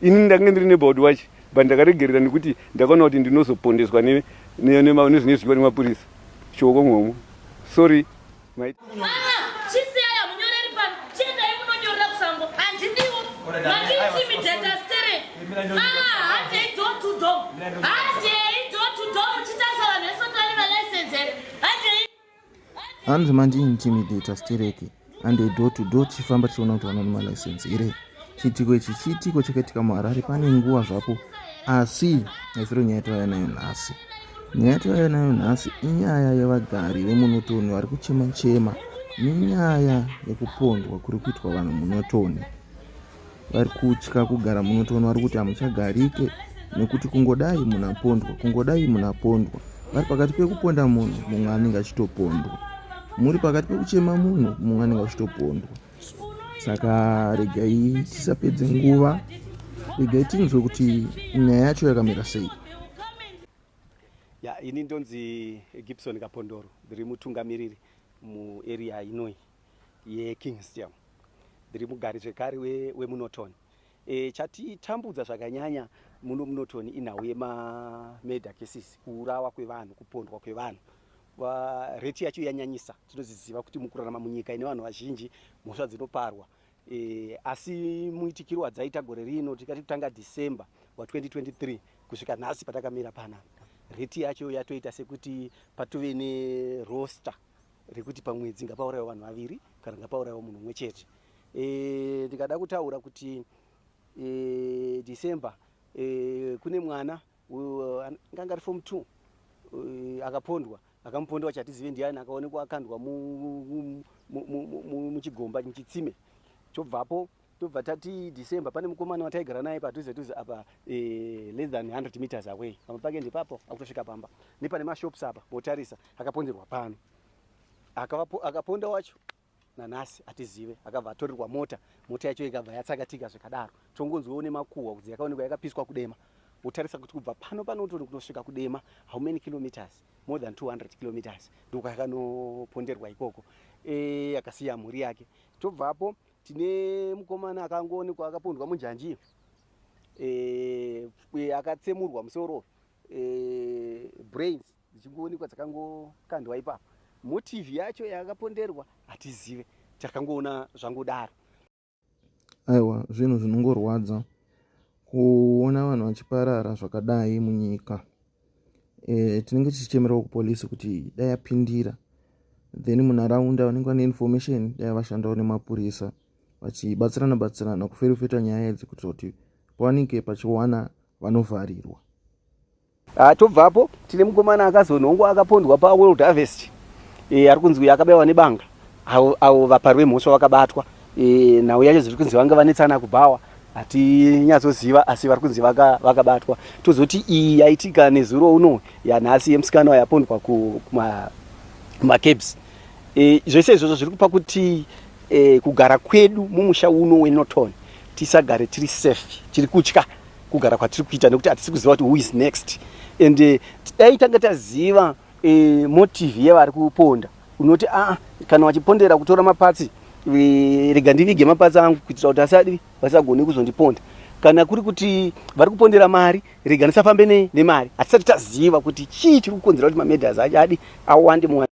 Ini ndange ndiri neighborhood watch but ndakaregerera nekuti ndakaona kuti ndinozopondeswa nezvine zvidyiwa nemapurisa choko ngomwo sorry my... hanzi mandi intimidator stereki and a door to door tichifamba tichiona kuti vanoona malicense here chiitiko ichi chiitiko chakaitika muharare pane nguva zvapo asi haisiro nyaya yatauya nayo nhasi nyaya yatauya nayo nhasi inyaya yevagari vemunotoni vari kuchema chema nenyaya yekupondwa kuri kuitwa vanhu munotoni vari kutya kugara munotoona vari kuti hamuchagarike nekuti kungodai munhu apondwa kungodai munhu apondwa vari pakati pekuponda munhu mumwe anenge achitopondwa muri pakati pekuchema munhu mumwe anenge achitopondwa saka regai tisapedze nguva regai tinzwe kuti nyaya yacho yakamira sei ya ini ndonzi gibson kapondoro ndiri mutungamiriri muarea inoi yeKingstiam ndiri mugari zvekare wemunoton we e, eh, chatitambudza zvakanyanya muno munoton inhau yemameida cases kuurawa kwevanhu kupondwa kwevanhu reti yacho yanyanyisa tinoziziva kuti mukurarama munyika ine vanhu vazhinji mhosva dzinoparwa e, asi muitikiro wadzaita gore rino tikati kutanga december wa 2023 kusvika nhasi patakamira panapa reti yacho yatoita sekuti patove neroster rekuti pamwedzi ngapaurayiwa vanhu vaviri kana ngapaurayiwa munhu umwe chete e, ndikada e, kutaura kuti e, december e, kune mwana nganga ari form two e, akapondwa akamupondwa chatizive ndiani akaonekwa akandwa muchigomba mu, mu, mu, muchitsime chobvapo tobva tati december pane mukomana wataigara naye padhuze dhuze apa eh, less than 100 meters away pamba pake ndepapo akutosvika pamba nepane mashops apa motarisa akaponderwa pano akaponda wacho nanhasi hatizive akabva atorerwa mota mota yacho ikabva yatsakatika zvikadaro tongonzwewo nemakuhwa kudzi yakaonekwa yakapiswa kudema wotarisa kuti kubva pano panotoni kunosvika kudema how many kilometers more than 200 kilometers ndokwakanoponderwa ikoko e, akasiya mhuri yake tobvapo tine mukomana akangoonekwa akapondwa munjanji e, e, akatsemurwa musoro e, brains dzichingoonekwa dzakangokandwa ipapo motive yacho yakaponderwa hatizive takangoona zvangodaro aiwa zvinhu zvinongorwadza kuona vanhu vachiparara zvakadai munyika e, tinenge tichichemerawo kupolice kuti dai apindira then munharaunda vanenge vane information dai vashandawo nemapurisa vachibatsirana batsirana kuferefeta nyaya idzi kuitira kuti pawanike pachiwana vanovharirwa ah, tobvapo tine mukomana akazonhongwa akapondwa paworld harvest e, ari kunzi uyo akabayiwa nebanga avo vaparwe mhosva vakabatwa e, nhau yacho zviri kunzi vanga vanetsana kubhawa hatinyatsoziva asi vari kunzi vakabatwa tozoti iyi yaitika nezuro uno yanhasi yemusikana wayapondwa kumacabs e, zvese izvozvo zviri kupa kuti e, kugara kwedu mumusha uno wenoton tisagare tiri safe tiri kutya kugara kwatiri kuita nekuti hatisi kuziva kuti who is next and e, dai tanga taziva e, motive yevari kuponda unoti aa kana wachipondera kutora mapatsi rega ndivige mapatsi angu kuitira kuti asadi vasagone kuzondiponda kana kuri kuti vari kupondera mari rega ndisafambe nemari hatisati taziva kuti chii chiri kukonzera kuti mamedas achadi awande